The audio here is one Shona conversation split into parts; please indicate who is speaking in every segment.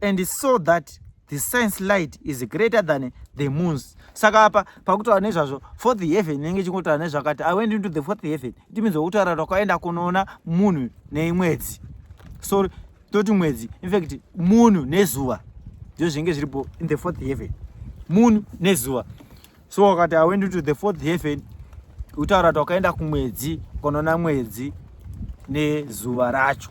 Speaker 1: and he saw that the science light is greater than the moons saka apa pakutaura nezvazvo fourth heaven inenge ichingotaura nezvakati i went into the fourth heaven it means wokutaura rakaenda kunoona munhu nemwedzi so toti mwedzi infact munhu nezuva ndizvo zvinenge zviripo in the fourth heaven munhu nezuva so wakati i went into the fourth heaven kutaura kuti wakaenda kumwedzi kunoona mwedzi nezuva racho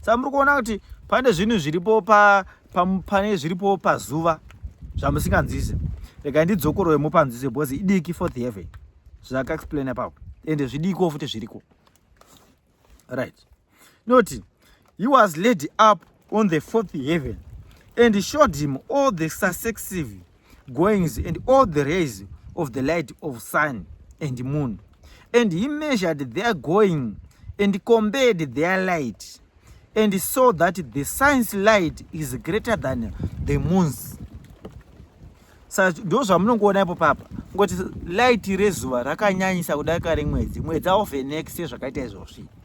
Speaker 1: saka muri kuona kuti pane zvinhu zviripo pa, pa, pane zviripo pazuva zvamusinganzwise rega ndidzokorore mupanzwise because idiki for the heaven zvakaexplaina papo ende zvidiko futi zviriko right noti he was lady up on the fourth heaven and showed him all the successive goings and all the rays of the light of sun and moon and he measured their going and compared their light and saw that the sun's light is greater than the moon's sa ndo zvamunongoona ipo papa ngoti light rezuva rakanyanyisa kudarika remwedzi mwedzi aovhenekise zvakaita izvozvi so,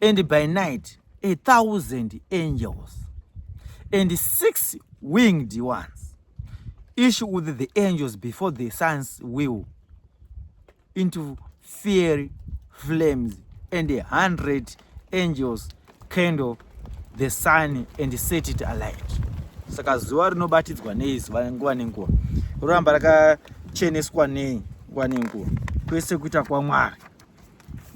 Speaker 1: and by night a thousand angels and six winged ones each with the angels before the sun's wheel into fiery flames and a hundred angels candle the sun and set it alight saka zuva rinobatidzwa nei zuva nguva nenguva roramba rakacheneswa nei nguva nenguva kwese kuita kwamwari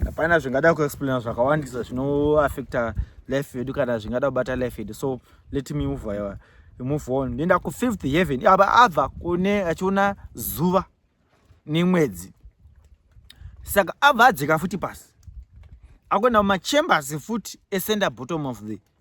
Speaker 1: hapana zvingada kuexplaina zvakawandisa zvinoaffecta life yedu kana zvingada kubata life yedu so let me move aiwa move on ndoenda kufifth heaven aba abva kune achiona zuva nemwedzi saka abva adzika futi pasi akuenda mumachambers futi esenda bottom of the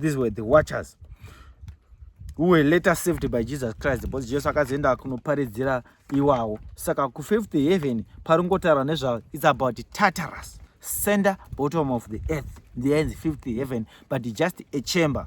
Speaker 1: these were the watchers who were later saved by jesus christ because jesu akazoenda kunoparidzira iwawo saka kufifth heaven paringotaura nezvavo its about tatarus center bottom of the earth there is fifth heaven but just a chamber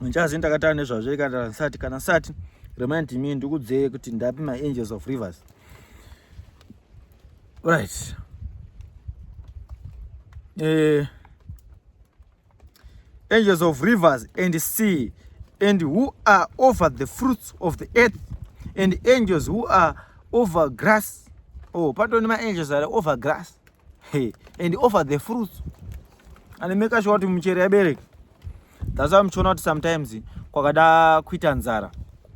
Speaker 1: ndichazi ndakataura nezvazvo ikandara nsati kana nsati remind me ndikudzeye kuti ndapi maangels of rivers right eh, angels of rivers and sea and who are over the fruits of the earth and angels who are over grass oh patoni maangels are over grass hey, and over the fruits and make sure kuti michero yabereka that's why muchiona kuti sometimes kwakada kuita nzara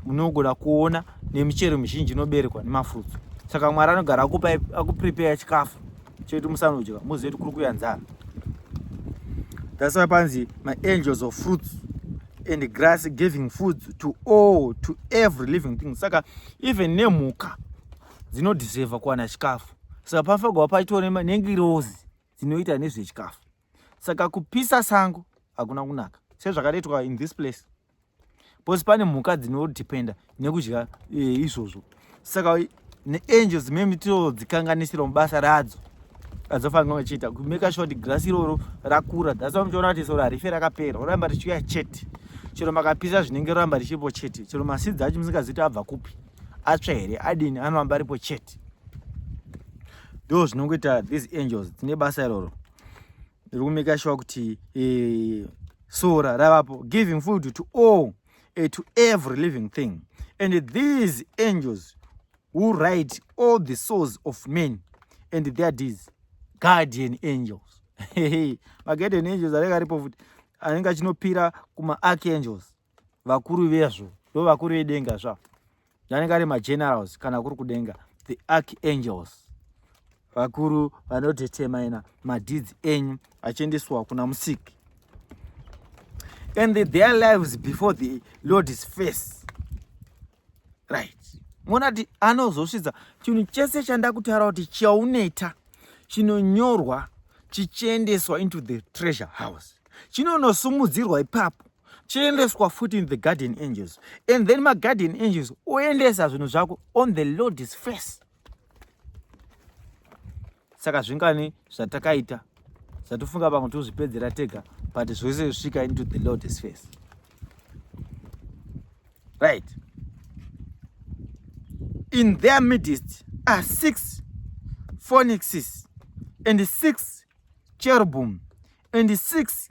Speaker 1: munogona kuona nemichero mizhinji inoberekwa nemafruits saka mwari anogara akupa akuprepare chikafu chekuti musanodya muzive kuti kuri kuya nzara that's why panzi maangels of fruits and grass giving food to all to every living thing saka even nemhuka dzinodiseva kuwana chikafu saka panofanirwa paitwa nengirozi dzinoita nezvechikafu saka kupisa sango hakuna kunaka sezvakaretwa in this place bcause pane mhuka dzinodependa nekudya eh, izvozvo saka neangels meme tinodzikanganisira mubasa radzo adzofanira vachiita kumeka sure kuti girasi iroro rakura thats why muchiona kuti soro harife rakapera roramba richiuya chete chero makapisa zvinenge roramba richipo chete chero masidzi acho musingazivi kuti abva kupi atsva here adini anoramba aripo chete ndo zvinongoita these angels tine basa iroro riri kumeka shuwa kuti eh, sora ravapo giving food to all eh, to every living thing and these angels who write all the souls of men and their deeds guardian angels maguardian angels anenge aripo futi anenge achinopira kumaarchangels vakuru vezvo ndo vakuru vedenga zva vanenge ari magenerals kana kuri kudenga the archangels vakuru vanodetermina madeeds enyu achiendeswa kuna musiki and the, their lives before the lord is face right mona ti anozosvidza chinhu chese chandakutaura kuti chauneta chinonyorwa chichiendeswa into the treasure house chinonosumudzirwa ipapo chiendeswa futi in the garden angels and then magarden angels oendesa zvinhu zvako on the lordis face saka zvingani zvatakaita zvatofunga vamwe tozvipedzera tega but zvose zvisvika into the lordis face right in their midst are six phonixes and six cherubim and six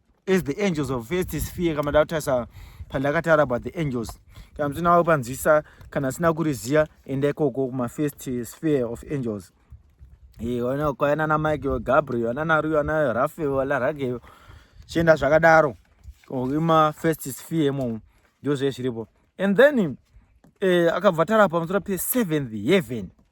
Speaker 1: as the angels of first sphere kama ndakutarisa pandakataura about the angels kana muchina wavo panzwisa kana asina kuriziva enda ikoko kumafirst sphere of angels kwaya nana michael gabriel anana ruyo ana rafael ana ragel chienda zvakadaro ima first sphere imomo ndozvee zviripo and then eh, akabva tara pamusoro peseventh heaven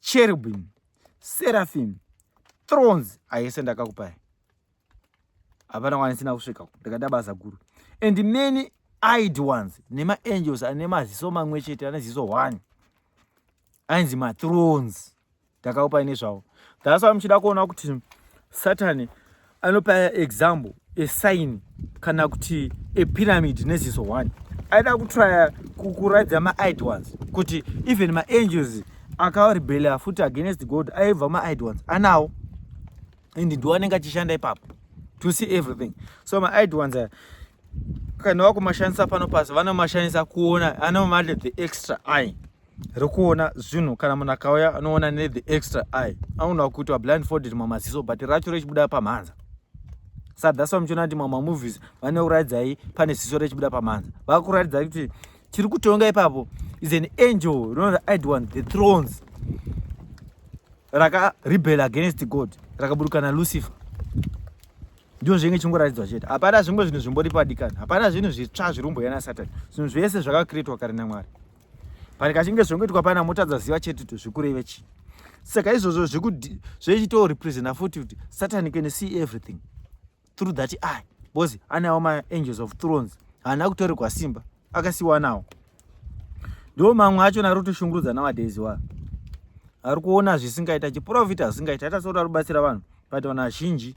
Speaker 1: cherubim seraphim thrones ayese ndakakupai hapana kwanisina kusvika uko ndakaita basa guru and many eyed ones nemaangels ane maziso mamwe chete ane ziso one ainzi mathrones ndakakupai nezvavo that's why muchida kuona kuti satani anopa example a sign kana kuti a pyramid neziso one aida kutrya kukuradza maid ones kuti even maangels akarebela futi against god aibva maid ones anawo and ndiwo anenge achishanda ipapo to see everything so maid ones aya kana wakumashandisa pano pasi vanomashandisa kuona anomati the extra eye rekuona zvinhu kana munhu akauya anoona ne the extra eye anoona kuti wa blindfolded mamaziso but racho rechibuda pamhanza sa that's why muchiona kuti mama movies vane kuraidzai pane ziso rechibuda pamhanza vakuraidzai kuti chiri kutonga ipapo is an angel rinonzi id one the thrones raka rebel against god rakaburukana lucifer ndizvo zvinenge chingoratidzwa chete hapana zvimwe zvinhu zvimbori padikani hapana zvinhu zvitsva zvirumboyana satani zvinhu zvese zvakakretwa kare namwari but kachinge zvongoitwa pana motadza ziva chete to zvikureve chii saka izvozvo zvechito representa futi kuti satani can see everything through that eye bcause anawo maangels of thrones haana kutorerwa simba akasiwanawo ndo mamwe acho nari kutoshungurudza nowadays wa ari kuona zvisingaita chiprofita zvisingaita ata soti ari kubatsira vanhu but vanhu vazhinji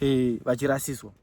Speaker 1: eh, vachirasiswa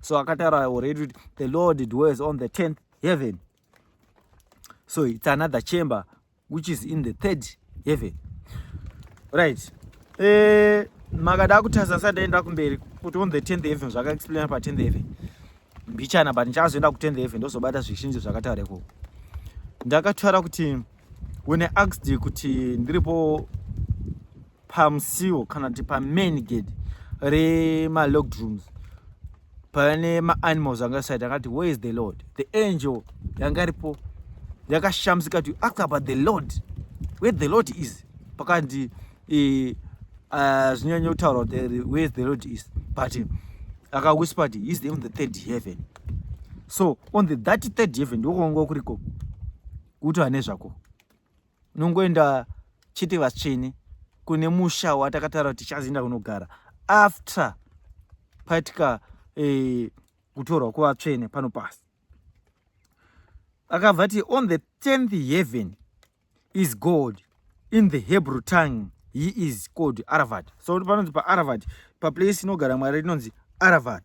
Speaker 1: so akataura already kuti the lord dwells on the 10th heaven so it's another chamber which is in the third heaven right eh, makada kutasa sa ndaenda kumberi kuti on the 10th heaven zvakaexplaina pa 10th heaven mbichana but ndichazoenda ku 10th heaven ndozobata zvizhinji zvakataura ikoko ndakataura kuti when i asked kuti ndiripo pamusiwo kana kuti pamain gate remalocked rooms paiva nemaanimals anga saita akati where is the lord the angel yanga iripo yakashamisika kuti ask about the lord where the lord is pakanzi eh, ah, zvinyanya kutaura kuti eh, where is the lord is but akawhisper kuti is on the third heaven so on the that third heaven ndokuonga kuriko kuti ane zvako nongoenda chete vatsvene kune musha watakataura kuti tichazoenda kunogara after paitika eh, kutorwa kuvatsvene pano pasi akabva ti on the 10th heaven is god in the hebrew tongue he is called aravat so panonzi paaravat paplace inogara mwari rinonzi aravat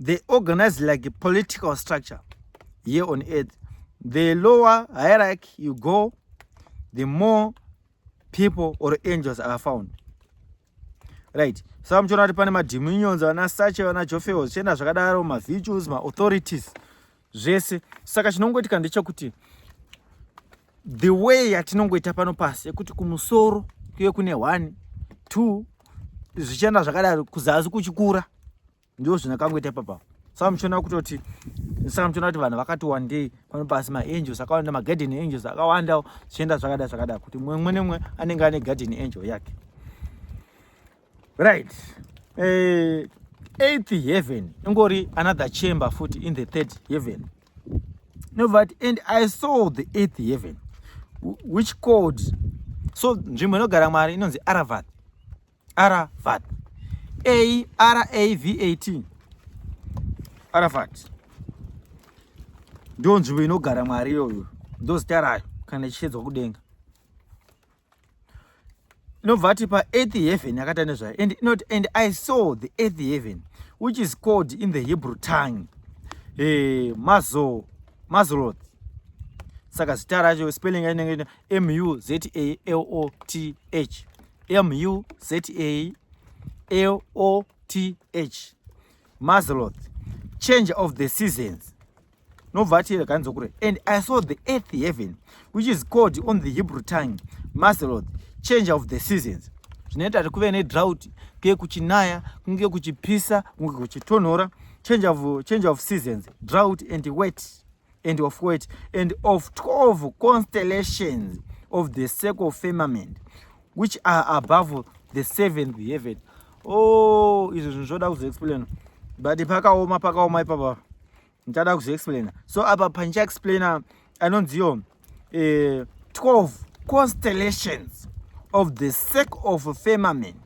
Speaker 1: they organize like a political structure here on earth the lower hierarchy you go the more people or angels are found right saka muchiona kuti pane madiminions vana sache vana jofeo zvichienda zvakadaro mavirtues maauthorities zvese saka chinongoitika ndechekuti the way yatinongoita pano pasi yekuti kumusoro kuye kune one two zvichienda zvakadaro kuzasi kuchikura ndo zvinakangoita ipapa saka muchiona kutoti saka muchiona kuti vanhu vakati wandei pano pasi maangels akawanda magarden angels akawanda zvichienda zvakada zvakada kuti mumwe mumwe nemumwe anenge ane garden angel yake right uh, eh, eighth heaven ingori another chamber futi in the third heaven no but and i saw the eighth heaven which called so nzvimbo inogara mwari inonzi aravad aravad a r a v a t aravad ndo nzvimbo inogara mwari iyoyo ndozita rayo kana ichiedzwa kudenga inobva ati paearth heaven yakaita nezvayo and inoti and i saw the earth heaven which is called in the hebrew tongue eh, mazo mazroth saka zita racho spelling ainenge m u z a l o t h m u z a l o t h mazroth change of the seasons nobva ati rega ndizokure and i saw the earth heaven which is called on the hebrew tongue maseloth change of the seasons zvinoita kuti kuve nedrought kunge kuchinaya kunge kuchipisa kunge kuchitonhora change of, change of seasons drought and wet and of wet and of 12 constellations of the circle firmament which are above the seventh heaven oh izvo zvinhu zvoda kuzoexplaina but pakaoma pakaoma ipapa ndichada kuzoexplaina so apa pandichaexplaina anonziyo eh, 12 constellations of the sake of firmament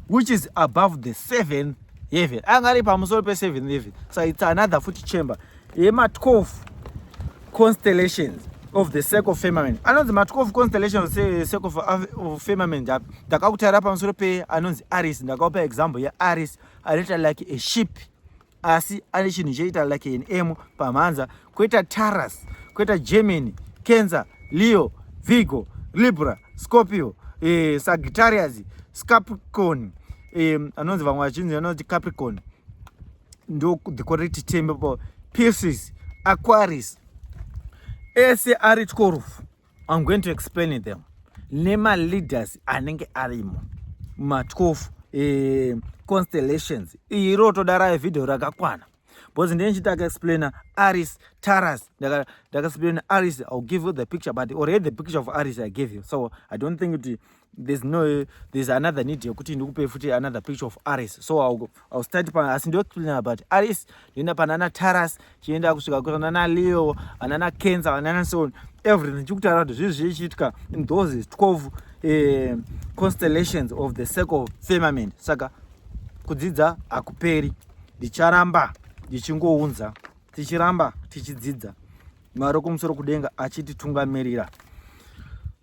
Speaker 1: which is above the seventh heaven anga ari pamusoro peseventh heaven so its another futi chamber yema 12 constellations of the circle firmament anonzi ma 12 constellation of the circle of firmament api ndakakutaira pamusoro pe anonzi aris ndakakupa example ye aris anoita like a ship asi ane chinhu choita like an m pamhanza koita taras koita germany cancer leo vigo libra scorpio eh, sagittarius scapricon eh, anonzi vamwe vachinzi anonzi capricon ndo the correct term for pieces aquaries ese ari tikorufu i'm going to explain them nemaleaders anenge arimo matwofu eh, constellations iyi rotoda raye vhidhiyo rakakwana because ndee ndichiti akaexplaina aris taras ndakaexplaina aris ill give you the picture but already the picture of aris i gave you so i don't think kuti there's no there's another need yekuti ndikupe futi another picture of aris so I'll, I'll start pa asi ndoexplaina about aris ndoenda panana taras chienda kusvika kunana leo vanana kenza vanana so everything chikutaura kuti zvii zvichiitika in those 12 eh, constellations of the circle firmament saka kudzidza hakuperi ndicharamba ndichingounza tichiramba tichidzidza mwari wekumusoro kudenga achititungamirira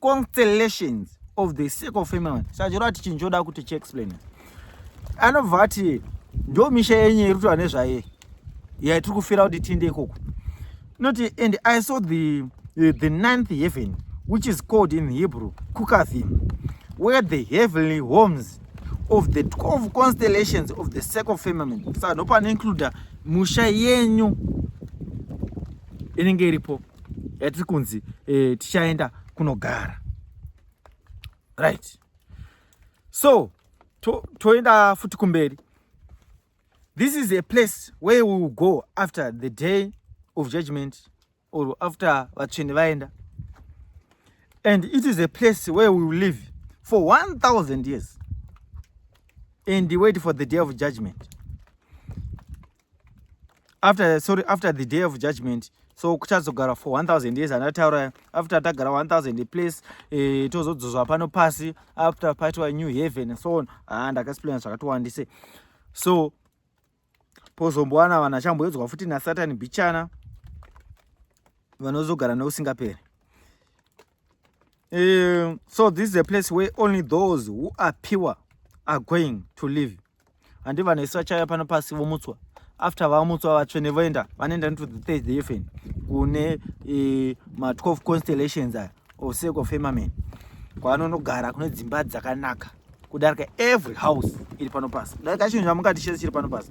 Speaker 1: constellations of the circle of family sachirova kuti chinhu choda kuti chiexplain anobva ati ndo misha yenyu iri kutaura nezvaye yatiri kufira kuti tiende ikoko inoti and i saw the, the, the ninth heaven which is called in hebrew kukathim where the heavenly homes of the 12 constellations of the circle of family saka ndopanoincluda musha yenyu inenge iripo yatiri kunzi eh, tichaenda kunogara right so toenda to futi kumberi this is a place where we will go after the day of judgment or after vatsvene vaenda and it is a place where we will live for 1000 years and wait for the day of judgment after sorry after the day of judgment so kuchazogara for 1000 years andataura after tagara 1000 place eh, tozodzozwa pano pasi after paitwa new heaven and so on ah, ndakaexplaina zvakatowandise so pozombowana vanhu achamboedzwa futi nasatani bichana vanozogara neusingaperi um, so this is a place where only those who are pure are going to live handi vanhu vese vachaya pano pasi vomutswa after vamutswa vatsvene voenda vanoenda into the third heaven kune e, ma12 constellations aya or sake of firmament kwaanonogara kune dzimba dzakanaka kudarika every house iri pano pasi kudarika chinhu chamungati chese chiri pano pasi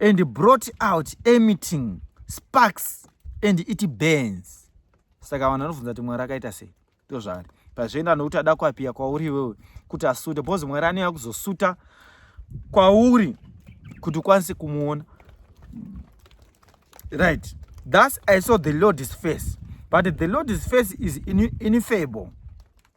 Speaker 1: and brought out emitting sparks and it burns saka vanhu vanobvunza kuti mwari akaita sei ndozvaari pazvienda nokuti ada kuapiya kwauri iwewe kuti asute bcause mwari anoya kuzosuta kwauri kuti ukwanise kumuona right thus i saw the lord's face but the lord's face is ineffable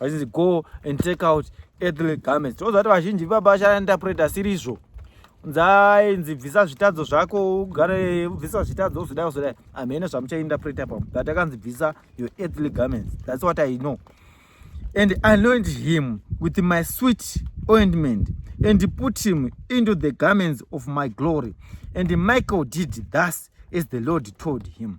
Speaker 1: vachinzi go and take out earthly garments tinoziva kuti vazhinji vibaba vachainterpreta asiri izvo nzainzi bvisa zvitadzo zvako ugare ubvisa zvitadzo uzodai uzodai amhene zvamuchainterpreta pamo but akanzi bvisa your earthly garments that's what i know and anoint him with my sweet ointment and put him into the garments of my glory and michael did thus as the lord told him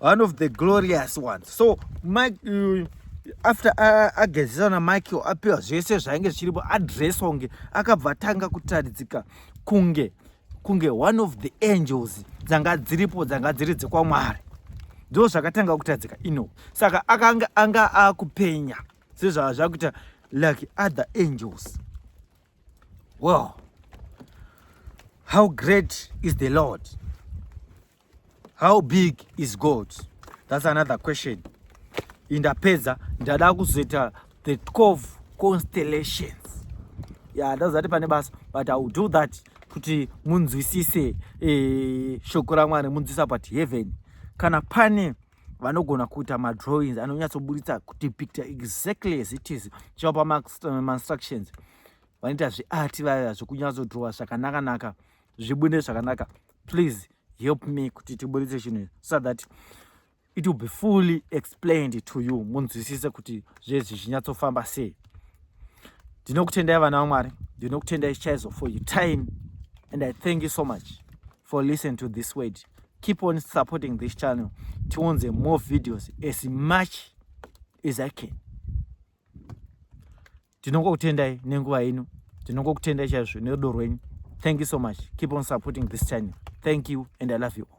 Speaker 1: one of the glorious ones so mike uh, after agezesa uh, namichael apiwa zvese zvainge zvichiripo adress onge akabva atanga kutaridzika kunge kunge one of the angels dzanga dziripo dzanga dziri dzekwamwari ndo zvakatanga kutadzika ino saka akanga anga akupenya sezvava zvakuita like other angels well how great is the lord How big is God? That's another question. Indapedza ndada kuzoita the 12 constellations. Yeah, ndazati pane basa but I will do that kuti munzwisise eh, shoko raMwari munzwisisa but heaven kana pane vanogona kuita madrawings anonyatsoburitsa kudepicta exactly as it is chivapa mainstructions vanoita zveart vaya zvekunyatsodrowa zvakanakanaka zvibude zvakanaka please help me kuti tiburitse chinhu so that it will be fully explained to you munzwisise kuti zvezvi zvinyatsofamba sei ndinokutendai vana vamwari ndinokutendai chaizo for your time and i thank you so much for listen to this word keep on supporting this channel tionze more videos as much as i can tinongokutendai nenguva yenyu tinongokutendai chaizvo nerudo rwenyu thank you so much keep on supporting this channel thank you and i love you all